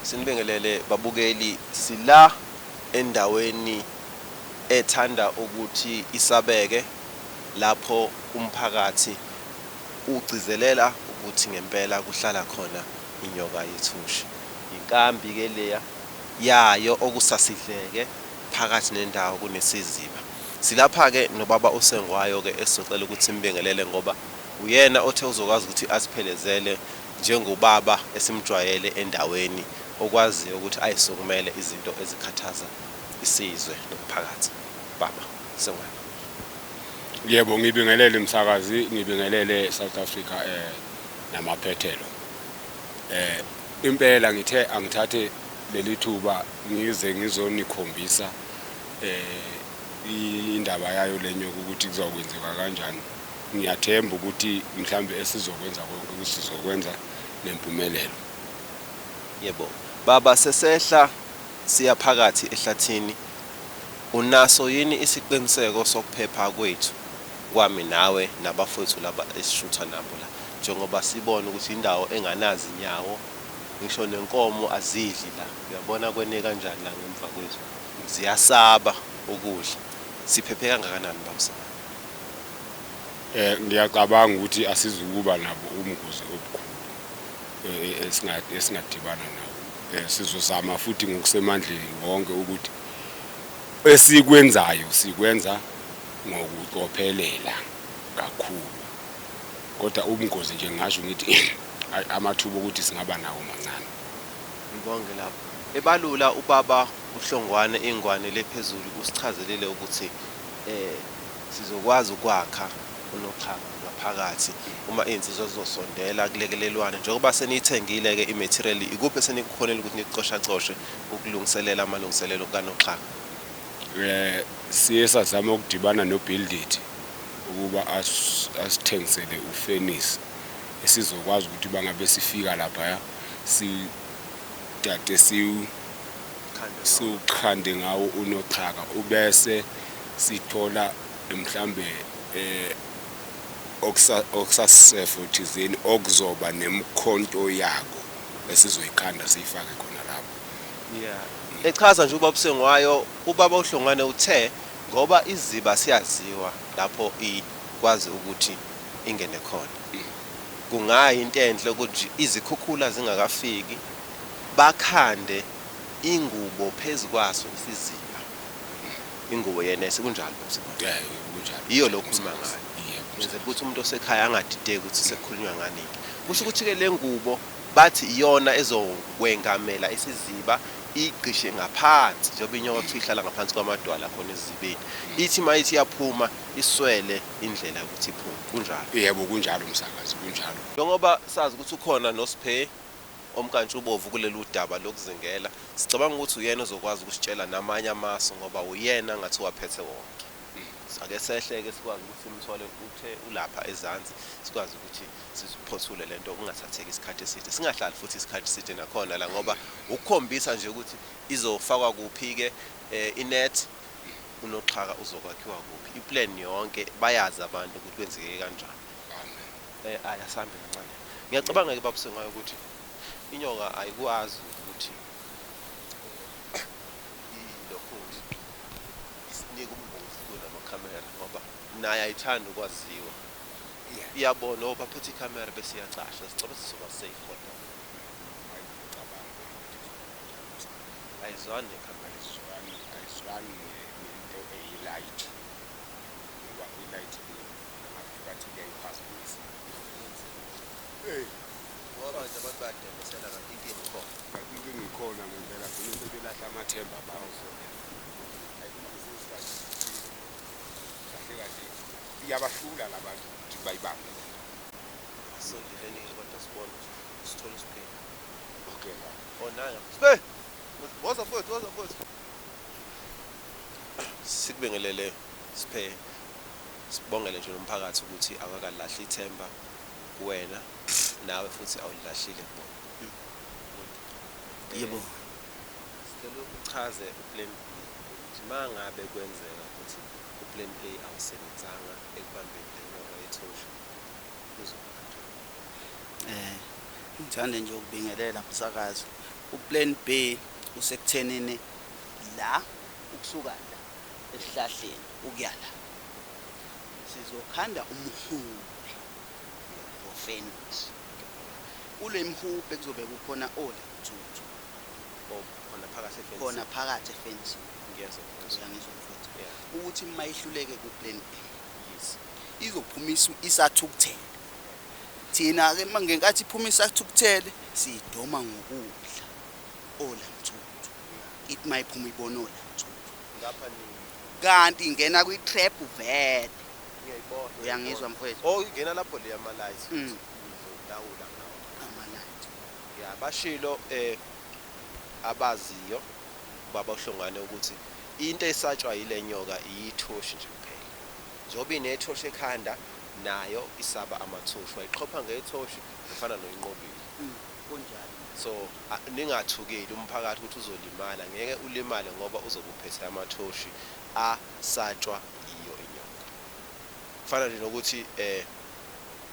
Sinibingelele babukeli sila endaweni ethanda ukuthi isabeke lapho umphakathi ugcizelela ukuthi ngempela kuhlala khona inyoka yethushi. Yinkambi ke leya yayo okusasidleke phakathi nendawo kunesiziba. Silapha ke nobaba uSengwayo ke esizocela ukuthi simbingelele ngoba uyena othe uzokwazi ukuthi aziphelezele njengobaba esimjwayele endaweni okwaziyo ukuthi ayisukumele izinto ezikhathaza isizwe nomphakathi. Baba Sengwane. Yebo ngibingelele msakazi ngibingelele South Africa eh namaphethelo. Eh impela ngithe angithathe leli thuba ngize ngizonikhombisa eh indaba yayo lenyoka ukuthi kuzokwenzeka kanjani. Ngiyathemba ukuthi mhlawumbe esizokwenza konke ukuthi sizokwenza nempumelelo. Yebo. Baba, sesehla siya phakathi ehlathini, unaso yini isiqiniseko sokuphepha kwethu, kwami nawe nabafowethu laba esishutha nabo la? Njengoba sibona ukuthi yindawo enganazinyawo, ngisho nenkomo azidli la. Uyabona kwene kanjani la ngemva kwethu. Ziyasaba ukudla. Siphephe kangakanani, Baba Sibani? eh, ngiyacabanga ukuthi asizukuba nabo ubungozi obukhulu eh, eh, esingadibana nabo eh, sizozama futhi ngokusemandleni wonke ukuthi esikwenzayo sikwenza ngokucophelela kakhulu kodwa ubungozi nje ngasho ngithi amathuba okuthi singaba nawo mancane ngibonge lapho ebalula ubaba uhlongwane ingwane lephezulu usichazelile ukuthi eh Sizokwazi ukwakha unoxhakanq ngaphakathi uma izinsizwa zizosondela kulekelelwane. Njengoba seniyithengile-ke imetheriyeli, ikuphi esenikukhonile ukuthi nikucoshacoshe ukulungiselela amalungiselelo kanoxhaka? Siye sazama ukudibana noBill Ndidi ukuba asithengisele ufenisi esizokwazi ukuthi bangabe sifika laphaya sidade siwu. siwukhande ngawo unoxhaka ubese sithola mhlambe eh okusasefo thizeni okuzoba nemikhonto yako esizoyikhanda siyifake khona lapho. Yeah. Echaza nje ubaba Sengwayo, ubaba uHlongwane uthe ngoba iziba siyaziwa lapho ikwazi ukuthi ingene khona. Kungayi into enhle ukuthi izikhukhula zingakafiki Bakhande ingubo phezu kwaso isiziba. Ingubo yenese kunjalo baba Sibonge. Yebo kunjalo. Yiyo lo okhuluma ngayo. Wenzela ukuthi umuntu osekhaya angadideki ukuthi sekukhulunywa nganini. Kusho ukuthi ke lengubo bathi iyona ezokwengamela isiziba iyigqishe ngaphansi njengoba inyokotho ihlala ngaphansi kwamadwala akhona esizibeni. Ithi mayithi iyaphuma iswele indlela yokuthi iphume. Kunjalo. Yebo kunjalo msakazi kunjalo. Njengoba sazi ukuthi ukhona noSphe. omnkantshubovu kulelu daba lokuzingela, sicabanga ukuthi uyena ozokwazi ukusitshela namanye amasu ngoba uyena ngathi uwaphethe wonke. Ake sehle-ke sikwazi ukuthi simthole, uthe ulapha ezansi, sikwazi ukuthi siphothule le nto kungathatheki isikhathi eside, singahlali futhi isikhathi eside nakhona la ngoba wukukhombisa nje ukuthi izofakwa kuphi-ke inethi, unoxhaka uzokwakhiwa kuphi, i-plan yonke bayazi abantu ukuthi kwenzeke kanjani. Eh ay asambe kancane. Ngiyacabanga ke babu Sengayo ukuthi inyoka ayikwazi ukuthi ilokhunzi isinika ubungozi kula makhamera ngoba naye ayithanda ukwaziwa. Yeah. Iyabona oh baphethe ikhamera bese iyacasha sicela sizoba safe kodwa. Ayizwani nekhamera. Ayizwani ayizwani nento eyilight. Ngoba ilight Abantu bathi uyayiphazamisa. Hey. Ngoba manje abantu bayadembesela kanti inkinga ikhona. Kanti inkinga ikhona ngempela vele sebelahla amathemba bawo. Kahle kahle iyabahlula labantu ukuthi bayibambe. Sondeleni kodwa sibone sithole isiphila. Okay. Oh nayo. Sibe. Woza mfowethu, woza mfowethu. Sikubingeleleyo. Sphe, Sibongele nje nomphakathi ukuthi awukakalilahli ithemba kuwena nawe futhi awulilahlile kubona. Yebo. Sicela uchaze uplan B ukuthi mangabe kwenzeka ukuthi uplan A awusebenzanga ekubambeni lenyoka yethosha kuzoba kanjani? Ngithanda nje ukubingelela msakazi, uplan B usekuthenini la ukusuka la. esihlahleni ukuya la sizokhanda umhube ngofenix kule mhubhe kuzobe kukhona ola thuthu oh, khona phakathi efence khona phakathi efence ngiyezwa ngiyangizwa mfowethu ukuthi uma ihluleke ku plan A yes izophumisa isathukuthele thina ke ngenkathi iphuma isathukuthele sidoma ngokudla ola mthuthu it my phuma ibonole ngapha nini kanti ingena kwi trap vele ngiyayibona uyangizwa mfowethu oh ingena lapho le ama lights mm. ngizolawula ngawo ama lights ya bashilo eh abaziyo baba uhlongane ukuthi into esatshwa yilenyoka iyithoshi nje kuphela njengoba inethoshi ekhanda nayo isaba amathoshi wayixhopha ngethoshi efana noyinqobile mm. kunjalo. So ningathukeli umphakathi ukuthi uzolimala ngeke ulimale ngoba uzobe uphethe amathoshi a satshwa yiyo inyoka. Kufana nje nokuthi eh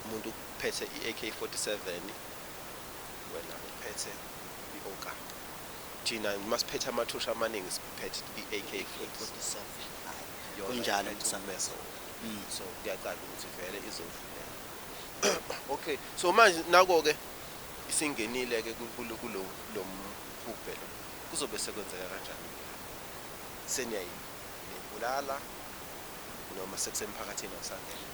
umuntu uphethe i AK47 wena uphethe i oka. Thina masiphethe amathoshi amaningi siphethe i AK47. Kunjalo msakazi. Mm. So kuyaqala ukuthi vele izodlulela. Okay so manje nako ke isingenile ke kulo mhubhe lo kuzobe sekwenzeka kanjani seniyayibulala noma sekusemphakathini awusangena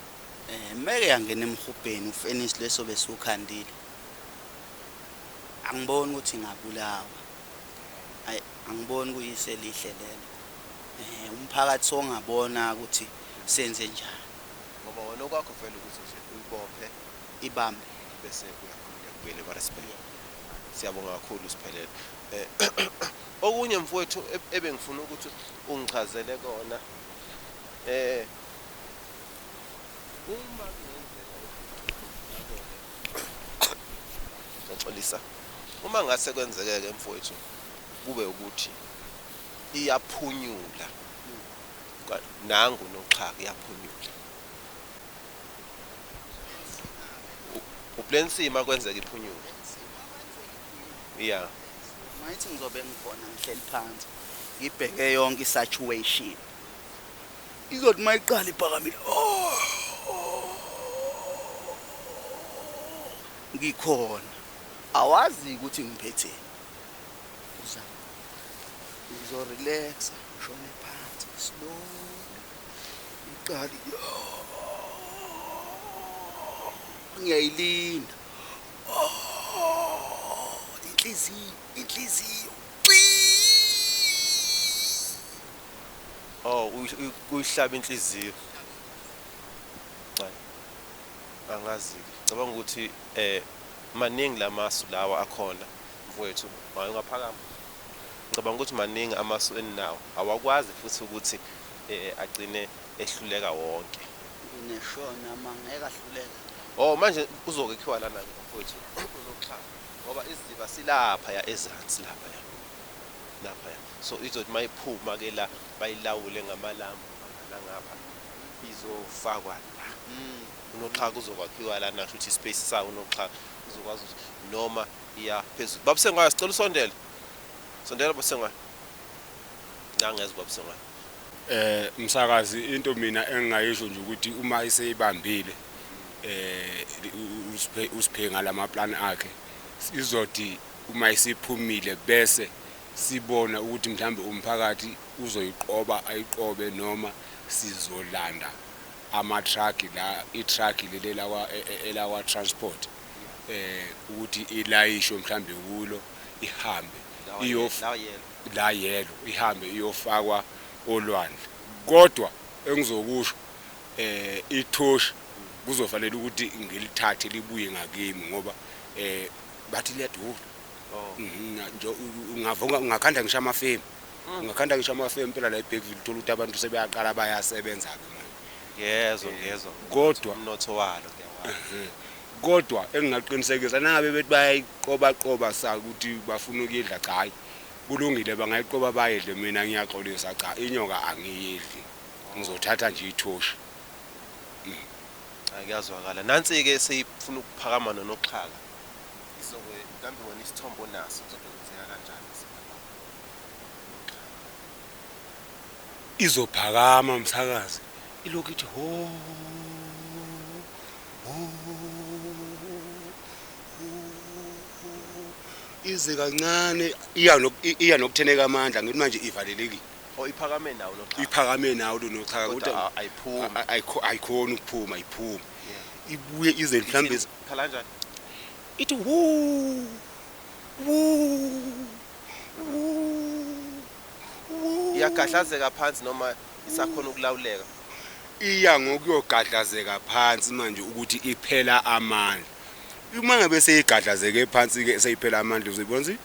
eh meke yangena emhubheni ufinish leso besukhandile angiboni ukuthi ngabulawa ayi angiboni kuyise lihle lelo eh umphakathi songabona ukuthi senze njani ngoba wona okwakho vele ukuthi nje uyibophe ibambe bese uyakhululeka ubuyele kwaRespect. Siyabonga kakhulu Sphelele. Okunye mfowethu ebengifuna ukuthi ungichazele kona eh uma ngiyaxolisa uma ngase kwenzeke ke mfowethu kube ukuthi iyaphunyula nangu noxhaka iyaphunyula uplensima kwenzeka iphunyuke yeah mayithi ngizobe ngikhona ngihleli phansi ngibheke yonke isaturation izothi mayiqala ibhakamile oh, oh. ngikhona awazi ukuthi ngiphethe uzama ngizorelaxa shone phansi slow iqali ngiyayilinda inhliziyo inhliziyo oh uyihlaba inhliziyo angazi cabanga ukuthi eh maningi lamasu lawa akhona mfowethu mayengaphakama ngicabanga ukuthi maningi amasu eninawo awakwazi futhi ukuthi agcine ehluleka wonke. Ngeshona ma ngeke ahluleke. Oh manje uzokekhiwa lana ke mfowethu uzoxhaka ngoba isiziba silapha ya ezansi lapha ya. Lapha ya. So izothi mayiphuma ke la bayilawule ngamalambu nangapha izofakwa la. Mm. Unoxhaka uzokwakhiwa lana kusho ukuthi space sawo unoxhaka uzokwazi ukuthi noma iya phezulu. Babusengwayo sicela usondele. Sondela babusengwayo. ngangezwa buhlungu ngayo. Eh msakazi into mina engingayisho nje ukuthi uma iseyibambile eh usiphe ngalama plan akhe izothi uma isiphumile bese sibona ukuthi mhlambe umphakathi uzoyiqoba ayiqobe noma sizolanda ama truck la i truck leli lawa e, e, elawa transport eh ukuthi ilayisho mhlambe kulo ihambe iyof la yellow ihambe iyofakwa olwandle kodwa engizokusho eh ithoshi kuzofanele ukuthi ngilithathe libuye ngakimi ngoba eh bathi liyadula oh. mhm, nje ungavunga ungakhanda ngisho amafemu mm. ungakhanda ngisho amafemu phela la eBergville uthola ukuthi abantu sebeyaqala bayasebenza ke manje yezo yezo kodwa umnotho walo mhm. kodwa engingaqinisekisa nangabe bethi bayayiqoba qoba sa ukuthi bafuna ukuyidla cha hayi kulungile bangayiqoba bayidle mina ngiyaxolisa cha inyoka angiyidli ngizothatha nje ithoshi mm. cha kuyazwakala nansi ke seyifuna ukuphakama nonoxhaka izobe kambe wena isithombo naso uzokwenzeka kanjani izophakama msakazi ilokhu ithi ho ho ize kancane iya nok- i- iya nokutheneka amandla ngithi manje ivalelekile Oh iphakame nawo lo cha. iphakame nawo lonoxhaka Kodwa kodwa a- ayiphumi. a- a- ayikho- ayikhoni ukuphuma ayiphumi Yeah. ibuye ize mhlawumbe ithi- Khala kanjani? ithi wu wu wu wu. Iyagahlazeka phansi noma isakhona ukulawuleka. iya ngokuyogadlazeka phansi manje ukuthi iphela amandla uma ngabe seyigadlazeke phansi ke seyiphela amandla uzoyibona ukuthi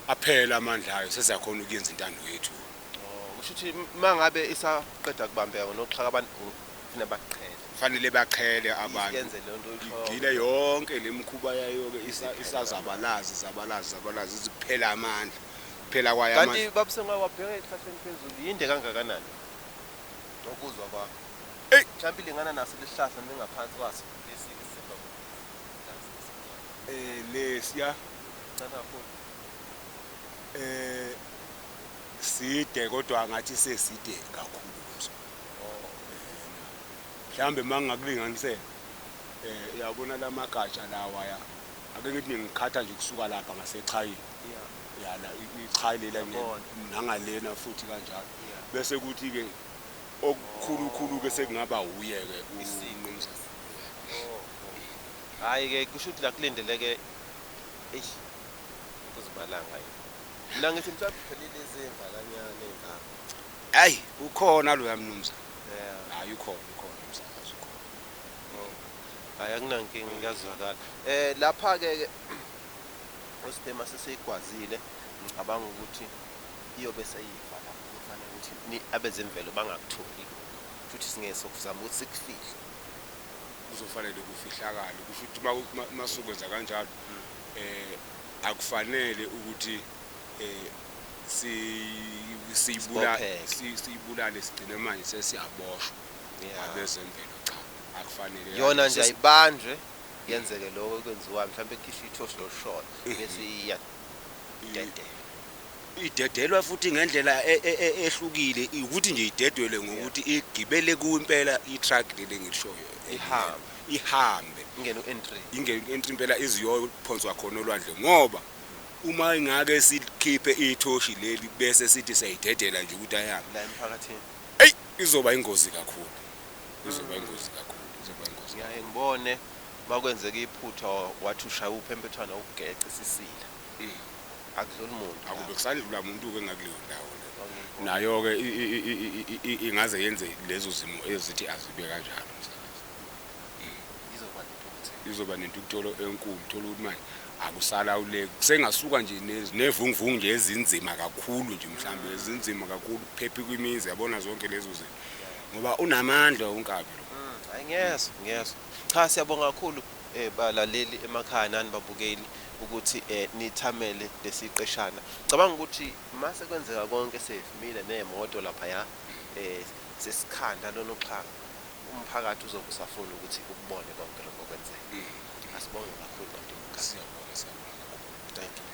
aphela amandla ayo sesiyakhona ukuyenza intando yethu oh, kusho ukuthi mangabe isaqeda kubambeka noxhaka abantu kufanele baqhele kufanele baqhele abantu yenze lento igile yonke lemkhuba yayo ke isazabalazi zabalazi zabalazi iziphela amandla Phela kwaya manje. Kanti babu sengawe wabheka ezihlahleni phezulu yinde kangakanani? Ngokuzwa kwakho. Ey! Mhlawumbe ilingana naso lesihlahla noma ingaphansi kwaso lesi esemva kwalesi esimnyama. Eh lesiya. Sincane kakhulu. Eh side kodwa ngathi seside kakhulu kuso. Oh. Mhlawumbe mangingakulinganisela eh uyabona lamagatsha lawa ya. Ake ngithi ngiqhatha nje kusuka lapha ngasechayini. Yeah. Yana ichayi lela nangalena futhi kanjalo. Bese kuthi ke okukhulukhulu ke sekungaba uye ke uMnumzane. Hayi ke kusho ukuthi la kulindeleke eish kuzibalanga yini. Mina ngithi mhlawumbe kuphelile izinga kanyana ingane. Hayi ukhona loya mnumzane. Yeah. Hayi ukhona ukhona umsakazi ukhona. Oh. Hayi akunankinga kuyazwakala. Eh lapha ke Ospe mase seyigwazile ngicabanga ukuthi iyobe seyifa lapho kufanele ukuthi ni- abezemvelo bangakutholi lokho futhi singeke sokuzama ukuthi sikufihle kuzofanele kufihlakale kusho ukuthi uma- uma- uma sokwenza kanjalo eh akufanele ukuthi eh si- siyibula- Sibopheke. si- siyibulale sigcine manje sesiyaboshwa Yeah. abezemvelo cha akufanele yona nje Sesi- ayibanjwe Kuyenzeke lokho ekwenziwayo mhlawumbe ekhishwa ithoshi losholo bese iyadedela. Idedelwa futhi ngendlela e, e, e, ehlukile ukuthi nje idedelwe ngokuthi igibele kuwe impela i-truck leli engilishoyo ihambe ihambe ingene u-entry ingene u-entry impela iziyophonswa khona olwandle ngoba uma ingake sikhiphe ithoshi leli bese sithi siyayidedela nje ukuthi ayihambe la emphakathini eyi izoba ingozi kakhulu kuzoba ingozi kakhulu kuzoba ingozi ngiyaye ngibone makwenzeka iphutha wathi ushaya uphempethwana ukugeca isisila akudluli muntu akube kusadlula muntu ke ngakuleyo ndawo nayo ke ingaze yenze lezo zimo ezithi azibe kanjalo msakazi izoba nentukutholo enkulu thola ukuthi manje akusalawuleki kusengasuka nje nevunguvungu nje ezinzima kakhulu nje mhlawumbe ezinzima kakhulu kuphephe kwimizi yabona zonke lezo zinto ngoba unamandla unkabi lo mm, ngiyezwa ngiyezwa cha siyabonga kakhulu eh balaleli emakhaya nani babukeli ukuthi eh nithamele lesiqeshana cabanga ukuthi mase kwenzeka konke sevimile nemoto lapha ya eh sesikhanda lona uxhaka umphakathi uzobe usafuna ukuthi ukubone konke lokho kwenzeka mm. asibonge kakhulu kanti mkhaya siyabonga siyabonga thank you